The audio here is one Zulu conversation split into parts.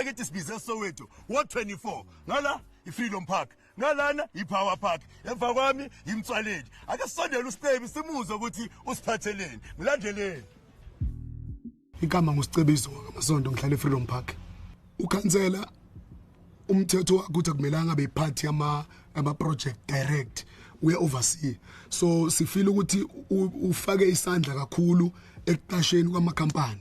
ekithi sibize soweto wo-24 ngala i-freedom park ngalana yi-power park emva kwami yimtswaleni ake sisondele usicebi simuzwe ukuthi usiphatheleni ngilandeleni igama ngusicebiso ngamasondo ngihlala e-freedom park ukhansela umthetho wakho ukuthi akumelanga beyiphathi ama-project direct uye-oversee so sifile ukuthi ufake isandla kakhulu ekuqasheni kwamakhampani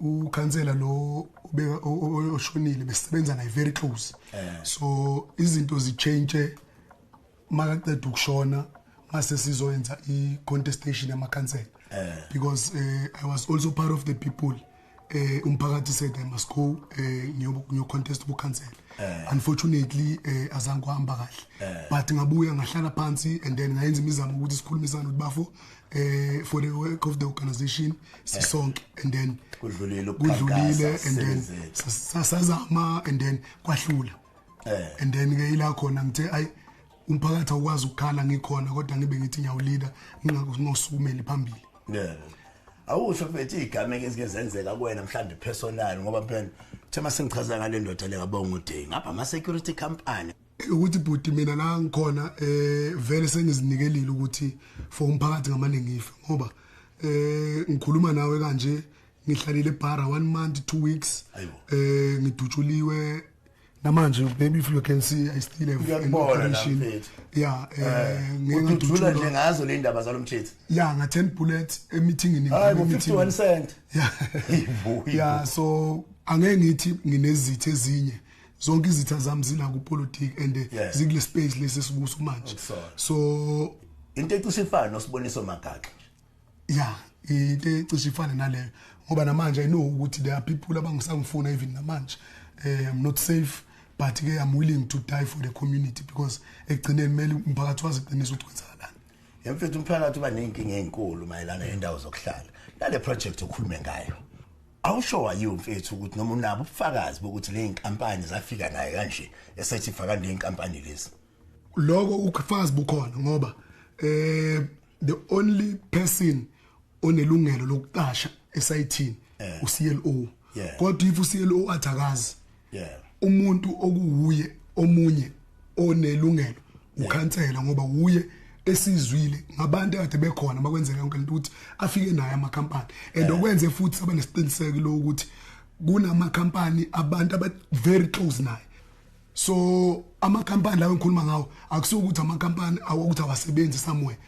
ukhansela lo oshonile besebenza naye very close eh. so izinto zichange makaqeda ukushona mase sizoyenza i-contestation yamakhansela eh. because uh, i was also part of the people eh umphakathi said i must go eh ngiyo contest ku cancel eh. unfortunately eh azange kuhamba kahle eh. but ngabuya ngahlala phansi and then ngayenza imizamo ukuthi sikhulumisane ukuthi bafo eh for the work of the organization sisonke and then kudlulile kudlulile and then sasazama and then kwahlula eh. and then ke ila khona ngithe ay umphakathi awukwazi ukukhala ngikhona kodwa ngibe ngithi ngiyawulida ngingakho ngosumeli phambili yeah awusho mfethu igama ezike zenzeka kuwena mhlambe personal ngoba phela thema sengichaza ngale ndoda le kabonga uday ngapha ama security company ukuthi bhuti mina la ngikhona eh vele sengizinikelile ukuthi for umphakathi ngamane ngife ngoba eh ngikhuluma nawe kanje ngihlalile ebhara one month two weeks eh ngidutshuliwe namanje maybe if you can see i still have an operation yeah eh, eh ngidutshula nje ngazo le ndaba zalomthetho yeah nga 10 bullets emithingini hayi 51 cent yeah yeah so angeke ngithi nginezithe ezinye zonke izitha zami zila ku politics and eh, yeah. zikule space lesi sikuso manje so into ecishe ifana nosiboniso magaxa yeah into ecishe ifana naleyo ngoba namanje i know ukuthi there are people abangisangifuna even namanje eh i'm not safe but ke i'm willing to die for the community because ekugcineni kumele umphakathi wazi iqiniso ukuthi kwenzakalani yemfethu umphakathi uba nenkinga ezinkulu mayelana nendawo zokuhlala nale project okhulume ngayo Awusho wayiwe mfethu ukuthi noma unabo ubufakazi bokuthi le nkampani zafika naye kanje esethi faka le nkampani lezi. Lokho ukufakazi bukhona ngoba eh the only person onelungelo lokuqasha esayithini eh. uCLO. Kodwa if uCLO athakazi yeah umuntu okuwuye omunye onelungelo ukhansela ngoba wuye esizwile ngabantu akade bekhona makwenzeka yonke lento ukuthi afike naye amakhampani and okwenze futhi sabe nesiqiniseko lo ukuthi kunamakhampani abantu aba very close naye so amakhampani lawo engikhuluma ngawo akusuka ukuthi amakhampani awokuthi awasebenzi somewhere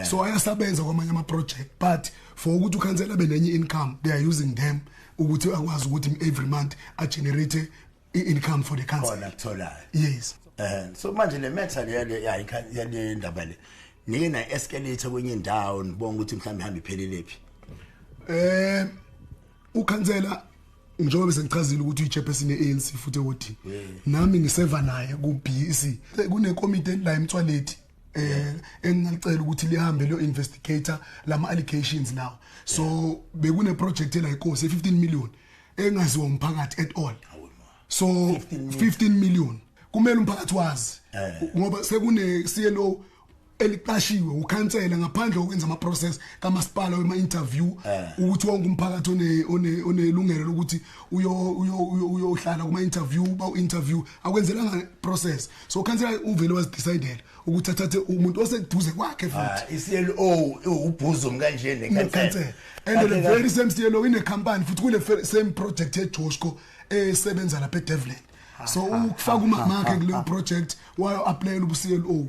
so ayasabenza kwamanye ama project but for ukuthi ukhansela benenye income they are using them yeah. ukuthi akwazi ukuthi every month a generate income for the council khona kutholayo yes eh so manje le matter le ya le ndaba le nike na escalate kwenye indawo nibonga ukuthi mhlawumbe ihamba iphelelephi eh ukhansela njengoba bese ngichazile ukuthi uyichairperson ye-ANC futhi ewodini nami ngiseva naye ku-BEC kunekomiti la emthwalethi eh engilicela ukuthi lihambe lo investigator lama allegations lawo so bekune project ela inkosi 15 million engaziwa umphakathi at all so 15 million kumele umphakathi wazi eh. ngoba sekune CLO eliqashiwe ukhansela ngaphandle kokwenza ama process kamasipala wema interview eh. ukuthi wonke umphakathi one one onelungelo lokuthi uyo uyohlala kuma interview ba interview akwenzelanga process so khansela uvele wazidecidela ukuthi athathe umuntu oseduze kwakhe futhi ah, i-CLO ubhuzo mkanje nekhansela and the very same CLO ine company futhi kule same project eJoshko esebenza lapha eDevlin so ukufaka umama wakhe kule project wayo applyela ubu-CLO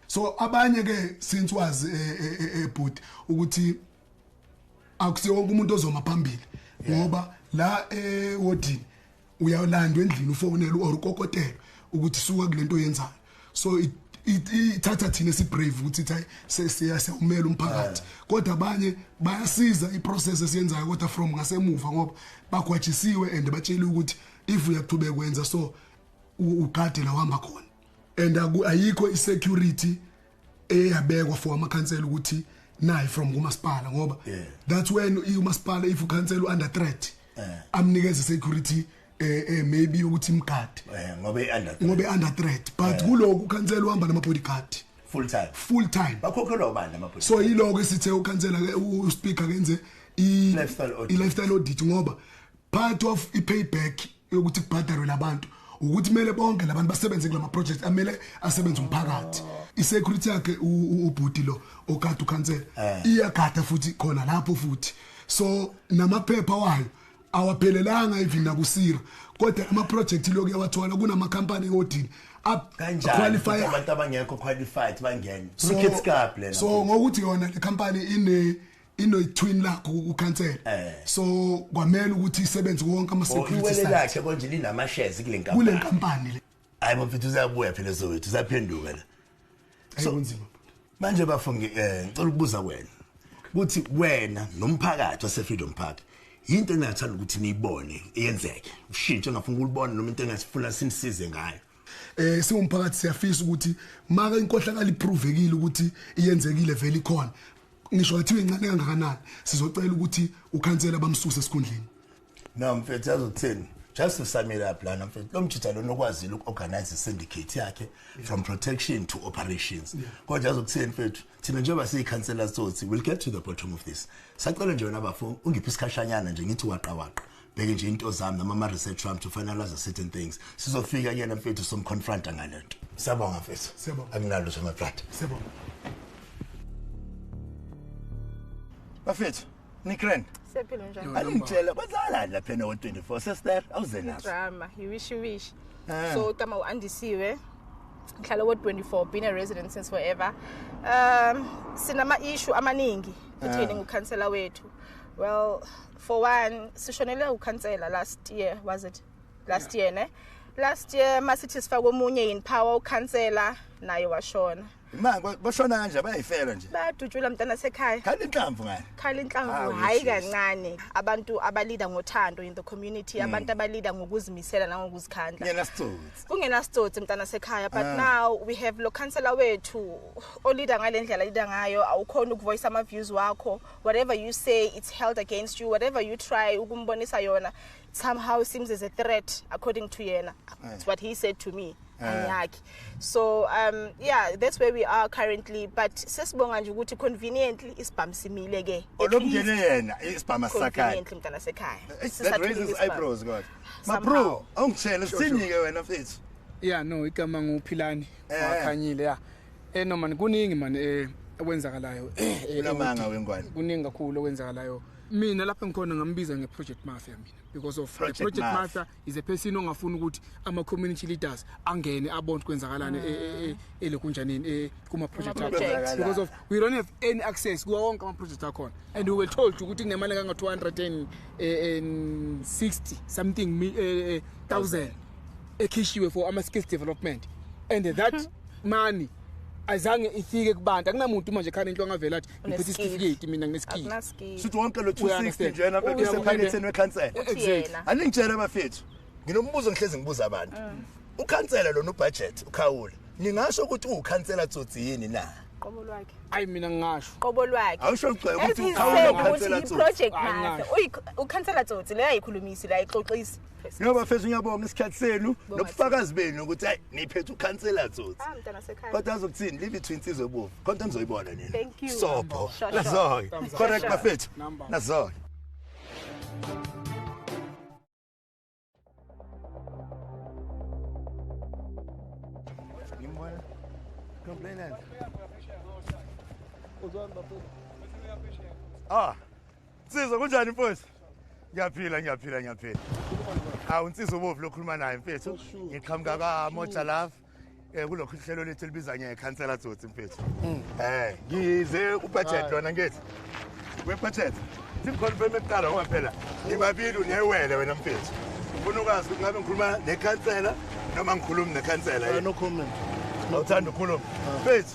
so abanye ke since wazi ebhuti eh, eh, eh, ukuthi akusiwonke umuntu ozoma phambili ngoba la ewodini uyalandwa endlini ufonelwa or ukokotelwa ukuthi suka kulento oyenzayo so it ithatha thina sibrave ukuthi thayi sesiyasewumela umphakathi eh. kodwa abanye bayasiza iprocess esiyenzayo kodwa from ngasemuva ngoba bagwajisiwe and batshele ukuthi if uyakuthube kwenza so ugade la uhamba khona and ayikho isecurity eyabekwa for amakhansela ukuthi nayi from kumasipala ngoba yeah. that's when umasipala if ukhansela under threat yeah. amnikeze security eh, eh maybe ukuthi imgadi eh, ngoba under ngoba under threat but yeah. kuloku ukhansela uhamba nama bodyguard full time full time bakhokhelwa ubani nama bodyguard so yiloko esithe ukhansela ke u speaker kenze i lifestyle audit ngoba part of i payback yokuthi kubhadarwe labantu ukuthi kumele bonke labantu basebenze kulama project amele asebenze umphakathi isecurity yakhe ubhuti lo ogada ukhansela eh. iyagada futhi khona lapho futhi so namaphepha wayo awaphelelanga even nakusira kodwa ama project lokho yawathola kunama company odini up qualify abantu abangekho qualified bangene so, kids cup lena so ngokuthi yona le company ine inoyithwini lakho ukukhansela eh. so kwamele ukuthi isebenze wonke ama oh, security side iwele lakhe konje linama shares kule nkampani kule nkampani le hayi mfethu uzabuya phela sowethu usaphenduka la so kunzima manje bafungi eh ngicela ukubuza wena ukuthi wena nomphakathi wase Freedom Park into engathanda ukuthi niyibone yenzeke ushintshe ngafuna ukulibona noma into engasifuna sinisize ngayo eh siwumphakathi siyafisa ukuthi maka inkohlakala iproovekile ukuthi iyenzekile vele ikhona ngisho athiwe incane kangakanani sizocela ukuthi ukhansela bamsuse esikhundleni no mfethu azothini just to sum it up lana mfethu lo mjitha lona okwazile uku-organize syndicate yakhe from protection to operations kodwa azokuthini mfethu thina njengoba siyikhansela sothi we'll get to the bottom of this sacela nje wena bafo ungiphi isikhashanyana nje ngithi waqawaqa bheke nje into zami noma ama research wami to finalize certain things sizofika kuyena mfethu somconfronta ngalento siyabonga mfethu siyabonga akunalo sema brother siyabonga bafethu nikren sephilo njani alingitshela kwenzalani lapha no 24 sister awuze nazo drama you wish you wish ah. so tama uandisiwe ngihlala wo 24 been a resident since forever um sinama issue amaningi kutheni ah. ngukhansela wethu well for one sishonele ukhansela last year was it last year ne last year masithi sifaka omunye in power ukhansela naye washona ma bashona kanje bayayifela nje bayadutshula mntana sekhaya khala inhlamvu ngani khala inhlamvu hayi kancane abantu abalida ngothando in the community mm. abantu abalida ngokuzimisela nangokuzikhandla kungena sitsotsi kungena sitsotsi mntana sekhaya but ah. now we have lo counselor wethu olida ngalendlela lida ngayo awukhona ukuvoice ama views wakho whatever you say it's held against you whatever you try ukumbonisa yona somehow seems as a threat according to yena yeah. it's what he said to me yeah. so um yeah that's where we are currently but sesibonga nje ukuthi conveniently isibhamu simile ke olomngene yena isibhamu sakhaya conveniently mntana sekhaya eh, that raises eyebrows god ma bro awungitshela sinike wena mfethu yeah no igama nguphilani Eh. wakhanyile ya eh no man kuningi man eh okwenzakalayo eh eh, Unamanga eh, wengwane. kuningi kakhulu okwenzakalayo mina lapha ngikhona ngambiza ngeproject mafia mina because of Project the project Mafia. mafia is a person ongafuni ukuthi ama community leaders angene abone ukuthi kwenzakalani eh, eh, eh, elokunjanini eh, kuma project Kuma akho. project. because of we don't have any access kuwa wonke ama project akhona and we were told ukuthi kunemali kanga 260 something mi- eh, eh, thousand ekhishiwe for ama skills development and that mhm. money azange ifike kubantu akunamuntu manje khani into angavela athi ngiphethe isitifiketi mina nginesikhiyi sithi wonke lo 260 njena besephaketheni wekhansela exactly aningitshela abafethu nginombuzo ngihlezi ngibuza abantu mm. ukhansela lona ubudget ukhawula ningasho ukuthi uwukhansela tsotsi yini na qobo lwakhe ayi mina ngingasho qobo lwakhe awusho ngicela ukuthi ukhawula ukhansela tsotsi project manje uyi ukhansela tsotsi leyo ayikhulumisi la ixoxisa No bafethu ngiyabonga isikhathi senu nobufakazi benu ukuthi hayi niphethe ukhansela tsotsi. Ah mntana sekhaya. Kodwa azokuthini live to insizwe bovu. Konke nizoyibona nina. Thank you. Sopo. Nazoy. Correct bafethu. Nazoy. Nimbona. Complainant. Uzwan bafethu. Ah. Nsizwa kunjani mfowethu? Ngiyaphila ngiyaphila ngiyaphila. Awu nsizwa ubovu lokhuluma naye mfethu. Ngiqhamuka ka Moja Love. Eh kulokhu ihlelo lethu libiza nge Councillor Tsotsi mfethu. Mm. Eh ngize ubudget lona ngithi. We budget. Simconfirm ekuqala ngoba phela ngibabili unewele wena mfethu. Ufuna ukwazi ukuthi ngabe ngikhuluma ne Councillor noma ngikhulumi ne Councillor. No comment. Awuthanda ukukhuluma. Ah. Mfethu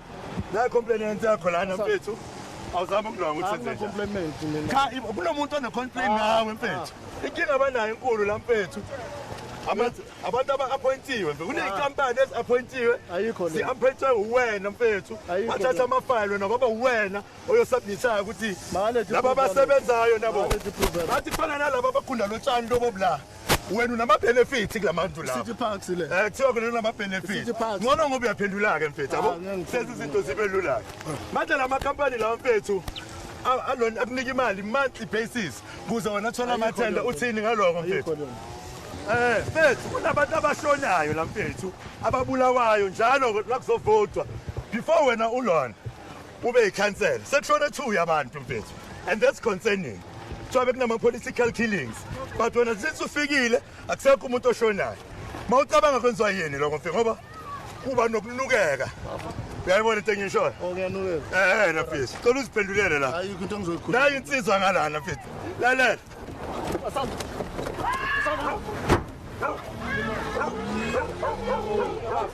Nayi complain yenze yakho lana mfethu. Awuzama ukulwa ukuthi senze. Compliment mina. Cha kunomuntu one complain nawe mfethu. Inkinga abanayo enkulu la mfethu. Abantu abantu aba-appointiwe mfethu. Kuney'nkampani ezi-appointiwe. Ayikho le. Si-appointwe uwena mfethu. Ayikho Wathatha le. amafayili wena kwaba uwena oyosubmithayo ukuthi Makaledi laba proof abasebenzayo nabo. Makaledi proof. Bathi kufana nalaba abagunda lotshani lobo bla. wena unama-benefit kula mantu laoe kuthiwa kona unama-benefit ngcono ngoba uyaphendula-ke mfethu abo senza izinto zibe lula-ke manje la makhampani lawa mfethu alona akunika imali monthly basis kuze wena thola amathenda uthini ngaloko mfethu um eh, mfethu kunabantu abashonayo la mfethu ababulawayo njalo lakuzovotwa before wena ulona Ube ikhansela. Sekushone two yabantu mfethu. And that's concerning. Kuthiwa bekunama political killings. But wena since ufikile akusekho umuntu oshonayo. Mawucabanga kwenziwa yini lokho mfethu ngoba kuba nokunukeka. Uyayibona into engishoyo? Oh kuyanukeka. Eh na mfethu. Cela uziphendulele la. Ayikho into engizoyikhuluma. Nayi insizwa ngalana mfethu. Lalela. Asanda. Asanda.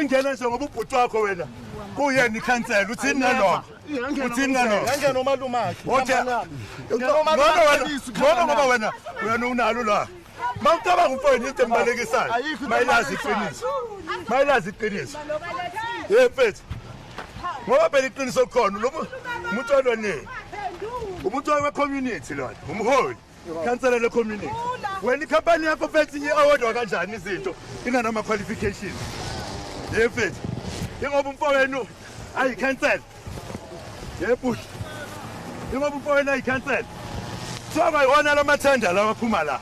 ingena nje ngoba ubhuti wakho wena kuyena ikhansela uthini nalokho uthini nalokhoona ngoba wena wena unalo la ma ucabanga umfowenu into embalekisayo mayilazi iqiniso mayilazi iqiniso ye mfethu ngoba phela iqiniso khona umuntu walonini umuntu wekhomunity lona umholi Khansela le community. Wena ikhampani yakho fethi inye award wakanjani izinto inganama qualification. Ye fethi. Ingoba umfowenu ayi cancel. Ye push. Ingoba umfowenu ayi cancel. Kuthiwa kwayiwona la mathenda lawa aphuma la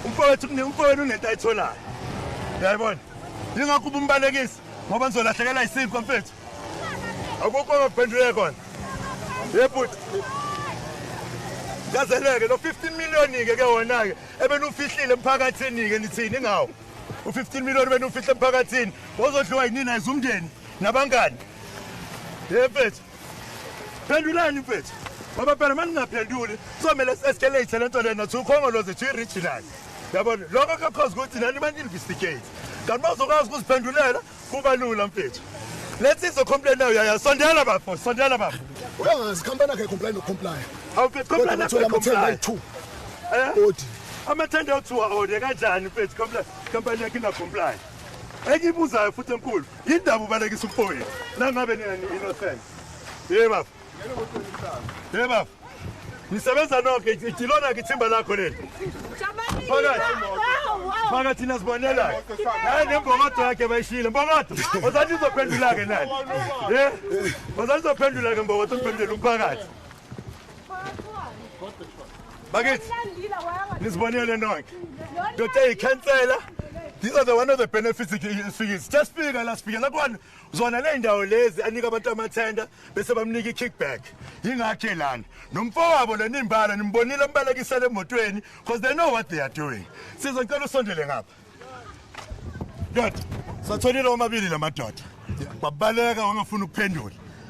umfowethu umfowenu unento ayitholayo yayibona yingakho uba umbalekisi ngoba nizolahlekelwa yisinkwa mfethu akukho ongakuphenduleka kona yebhuti yazeleke lo 15 million-ke ke wona-ke ebenufihlile emphakathini-ke nithini ngawo u-15 million benufihle emphakathini wozodliwa yinini ayize umndeni nabangani ye mfethu phendulani mfethu ngoba phela uma ningaphenduli kuzomele eseskelate le nto le nathi ukhongoloze to i-regional yabona lokho kakhozi ukuthi nani baninvestigate kanti bazokwazi ukuziphendulela Kuba lula mfethu. Let's izo complain nayo yaya sondela bafo sondela bafo. Uyangazi company yakhe complain no comply. Awu mfethu complain no comply. Eh? Odi. Amathende othiwa ode kanjani mfethu comply company yakhe na comply. Engibuzayo futhi enkulu yindaba ubalekisa umfowethu. Nangabe nina ni innocent. Yebo bafo. Hey bafo. Nisebenza nonke ilona ke ithimba lakho leli. Phakathi. Phakathi nasibonela. Hayi nembokodo yakhe bayishile. Mbokodo. Ozathi uzophendula ke nani? Eh? Ozathi uzophendula ke mbokodo uphendula umphakathi. Bakithi. Nisibonele nonke. Ndoda ikhansela. These are the one of the benefits. Just speak, last speak. Like one. zona ley'ndawo lezi anika abantu amathenda bese bamnika i-kickback yingakhe lana nomfowabo lo nimbala nimbonile ambalekisela emotweni because they know what they are doing sizocela usondele ngapha ndoda satholile omabili la madoda babaleka wangafuni ukuphendula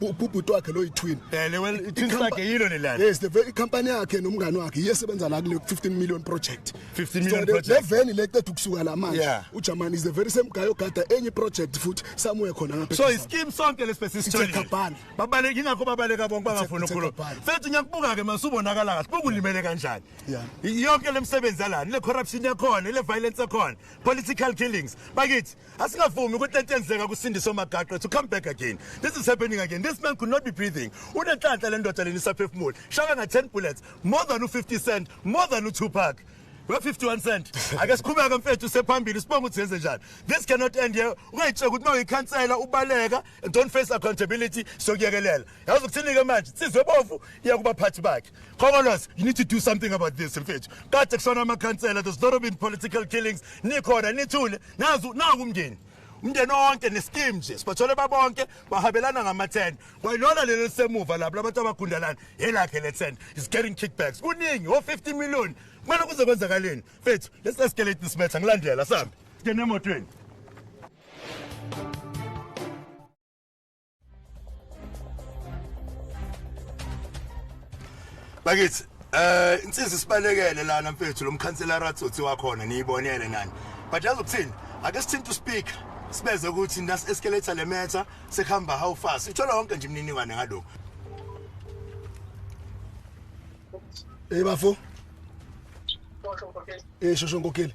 ubhuti wakhe lo yitwin eh lewe itwin sakhe yilo lelana yes the very company yakhe nomngane wakhe iyesebenza la kule 15 million project 15 million project le veni le qeda ukusuka la manje uJamani is the very same guy ogada enye project futhi somewhere khona ngapha so iskim sonke lesibese story babaleke ingakho babaleka bonke bangafuni ukukhuluma mfethu ngiyakubuka ke masubonakala kahle bokulimele kanjani yonke lemsebenzi yalana le corruption yakhona le violence yakhona political killings bakithi Asingavumi ukuthi lento yenzeka kuSindiso Magaqe to come back again. This is happening again. This man could not be breathing. Unenhlanhla le ndoda leni isaphefumula. Shaka nga 10 bullets, more than u50 cent, more than u2pac. Well 51 cent. Ake sikhubeke mfethu sephambili sibonga ukuthi yenze njani. This cannot end here. Ungayitsheka ukuthi mawuyikhansela ubaleka and don't face accountability sokuyekelela. Yazi ukuthini ke manje? Sizwe bovu iya kubaphathi bakhe. Khongolose, you need to do something about this mfethu. Kade kusona amakhansela, there's not been political killings. Nikhona nithule, nazu naku umndeni. Umndeni wonke neskim nje, sibathole babonke bahabelana ngama-10. Kwayilona lelo lisemuva lapho labantu abagundalana, yelakhe le-10 is getting kickbacks. Kuningi wo 50 million. Kumele kuze kwenzakaleni. Mfethu, let's escalate this matter. Ngilandela sambe. Ngene emotweni. bakithi eh insizwa isibalekele lana mfethu lo mkhansela ratsothi wakhona niyibonele nani but yazi ukuthini ake sithinta uspeaker sibeze ukuthi nas escalator le matter sekuhamba how fast ithola wonke nje imininingwane ngalokho Hey bafo. Hey shosho nkokheli.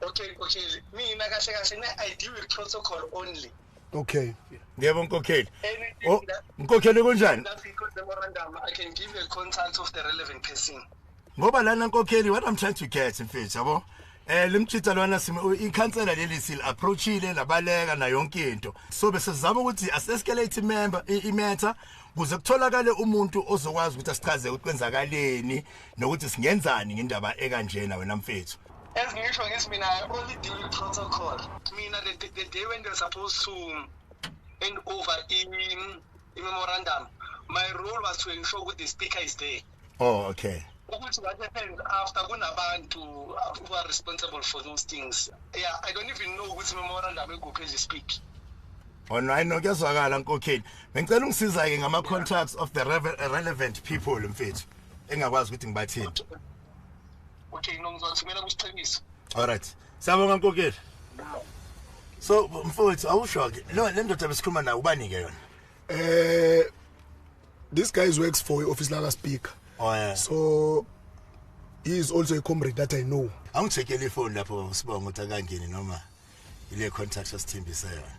okay nkokheli mina kahle kahle ne i deal with protocol only okay yebo nkokheli oh, nkokheli kunjani i can give a contact of the relevant person ngoba lana nkokheli what i'm trying to get mfethu yabo eh limchitha lona sime ikhansela leli sil approachile labaleka na yonke into so bese sizama ukuthi asescalate member imetha kuze kutholakale umuntu ozokwazi ukuthi asichaze ukuthi kwenzakaleni nokuthi singenzani ngendaba ekanjena wena mfethu As ngisho ngithi mina I only deal with protocol. Mina the, the, the day when they're supposed to hand over in, in memorandum, my role was to ensure that the speaker is there. Oh, okay. ukuthi what happened after kunabantu who are responsible for those things yeah i don't even know ukuthi memorandum ekuphi as you speak Online oh, no kuyazwakala nkokheli. Ngicela ungisiza ke ngama contacts of the relevant people mfethu. Engakwazi ukuthi ngibathini. okay no ngizothumela kusiqiniso all right siyabonga nkokeli so mfowethu awusho ke lo le ndoda besikhuluma nayo ubani ke yona eh this guy is works for office laka speaker oh yeah so he is also a comrade that i know angithekele ifoni lapho usibonga ukuthi akangeni noma ile contact osithembise yona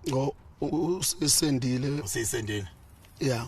ngo usisendile usisendile yeah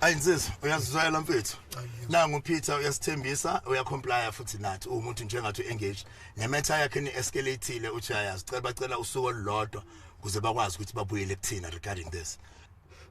ayinsiza uyazizwela mfethu nangu Peter uyasithembisa uyacomply futhi nathi umuntu njengathi engage nemetha yakhe ni escalateile uthi ayazi cela bacela usuku olulodwa kuze bakwazi ukuthi babuyele kuthina regarding this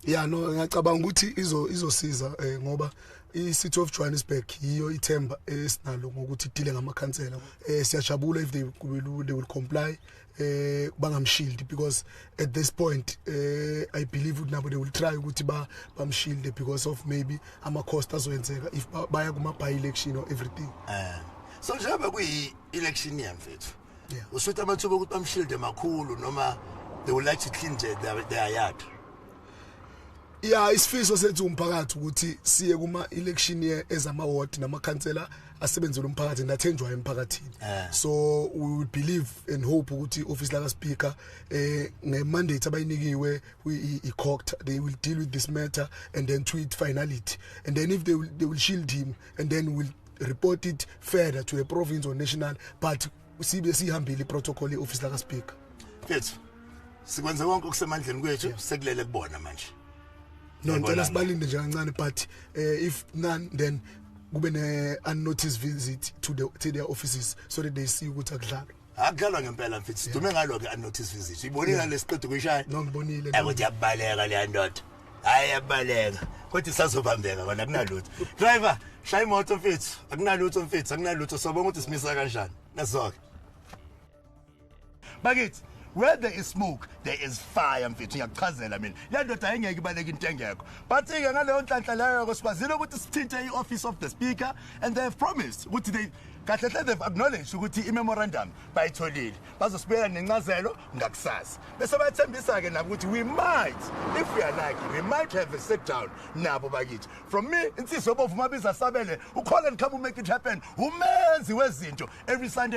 ya no ngiyacabanga ukuthi izo izosiza eh, ngoba i-city of johannesburg yiyo ithemba esinalo ngokuthi idile ngamakhansela um siyajabula if they will, they will comply eh bangamshield because at this point eh i believe ukuthi nabo they will try ukuthi ba bamshield because of maybe ama cost azoyenzeka if baya kuma by election or everything eh so njengoba kuyi election year mfethu yeah usuthi amathuba ukuthi bamshield emakhulu noma they would like to clean their, their yard ya isifiso sethu umphakathi ukuthi siye kuma election year ezama ward nama councillor asebenzele umphakathi nathenjwa emphakathini eh. so we will believe and hope ukuthi office laka speaker eh nge mandate abayinikiwe i court they will deal with this matter and then to it finality and then if they will, they will shield him and then will report it further to the province or national but sibe sihambile iprotocol yeoffice laka speaker mfethu sikwenze konke okusemandleni kwethu sekulele kubona manje no ngicela sibalinde nje kancane but uh, if none then kube ne unnoticed visit to the to their offices so that they see ukuthi akudlalwa akudlalwa ngempela mfethu sidume ngalo ke unnoticed visit ibonile lesiqedo kuyishaya no ngibonile ukuthi yabaleka le ndoda hayi yabaleka kodwa isazobambeka kona akunalutho driver shaya imoto mfethu akunalutho mfethu akunalutho sobonga ukuthi simisa kanjani nasoke bakithi where there is smoke there is fire mfethu ngiyakuchazela mina le ndoda ayingeke ibaleke into engekho but-ke ngaleyo nhlanhla leyo-ko sikwazile ukuthi sithinte i-office of the speaker and they have promised ukuthi they kahle hle they've acknowledged ukuthi i-memorandum bayitholile bazosibuyela nencazelo ngakusasa bese bayathembisa-ke nabo ukuthi we might if we are lucky we might have a sit down nabo bakithi from me insizwa obovuma biza sabele ukhole ndikhamba umake it happen umenzi wezinto every sunday